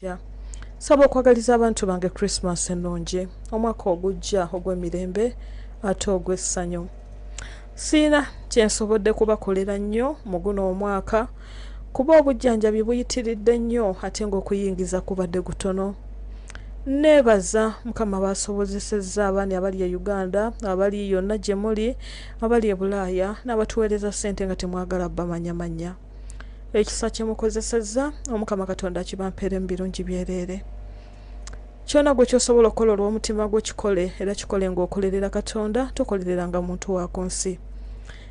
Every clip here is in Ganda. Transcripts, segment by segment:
Omuggya. Nsaba okwagaliza abantu bange Krisimaasi ennungi, omwaka ogujja ogw'emirembe ate ogw'essanyu. Sirina kye nsobodde kubakolera nnyo mu guno omwaka kuba obujjanjabi buyitiridde nnyo ate ng'okuyingiza kubadde gutono. Nneebaza Mukama baasobozesezza abaani abali e Uganda, abali yonna gye muli, abali e Bulaaya n'abatuweereza ssente nga temwagala bamanyamanya. ekisa kyemukozesezza omukama katonda akibampeere mu birungi byereere kyona gwe kyosobola okukola olw'omutima gwo kikole era kikole ng'okolerera katonda tokolereranga muntu wa ku nsi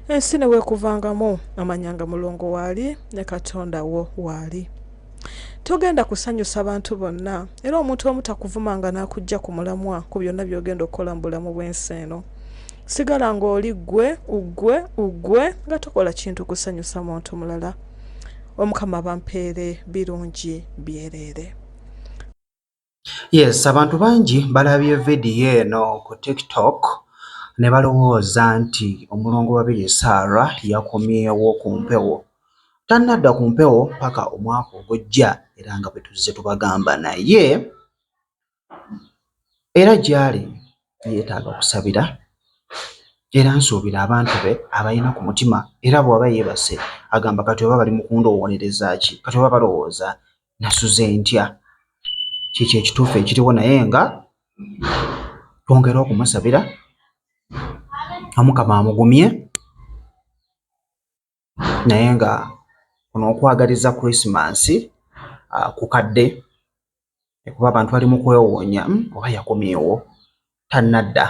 ensi ne weekuvangamu amanyanga mulongo waali ne katonda wo waali togenda kusanyusa bantu bonna era omuntu omu takuvuma nga n'akujja ku mulamwa ku byonna by'ogenda okukola mu bulamu bw'ensi eno sigala ng'oli ggwe uggwe uggwe nga tokola kintu kusanyusa muntu mulala omukama bampeere birungi byereere Yes, abantu bangi balabye vidiyo eno ku TikTok ne balowooza nti omulongo Babirye Sarah yakomyewo ku mpewo. Tannadda ku mpewo paka omwaka ogujja era nga bwe tuzze tubagamba naye era gy'ali yeetaaga kusabira era nsuubira abantu be abalina ku mutima era bw'aba yeebase agamba kati oba bali mu kundowoolereza ki kati oba balowooza nasuze ntya kyekyo ekituufu ekiriwo naye nga twongere okumusabira omukama amugumye naye nga kuno okwagaliza krisimansi ah, kukadde ekuba abantu bali mu kwewoonya hmm, oba yakomyewo tannadda.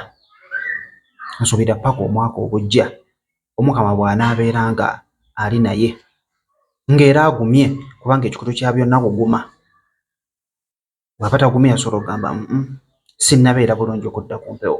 Nsuubira ppaka omwaka ogujja Omukama bw'anaabeera nga ali naye, ng'era agumye kubanga ekikutu kya byonna kuguma. Bw'aba tagumye asobola okugamba mm sinnabeera bulungi okudda ku mpewo.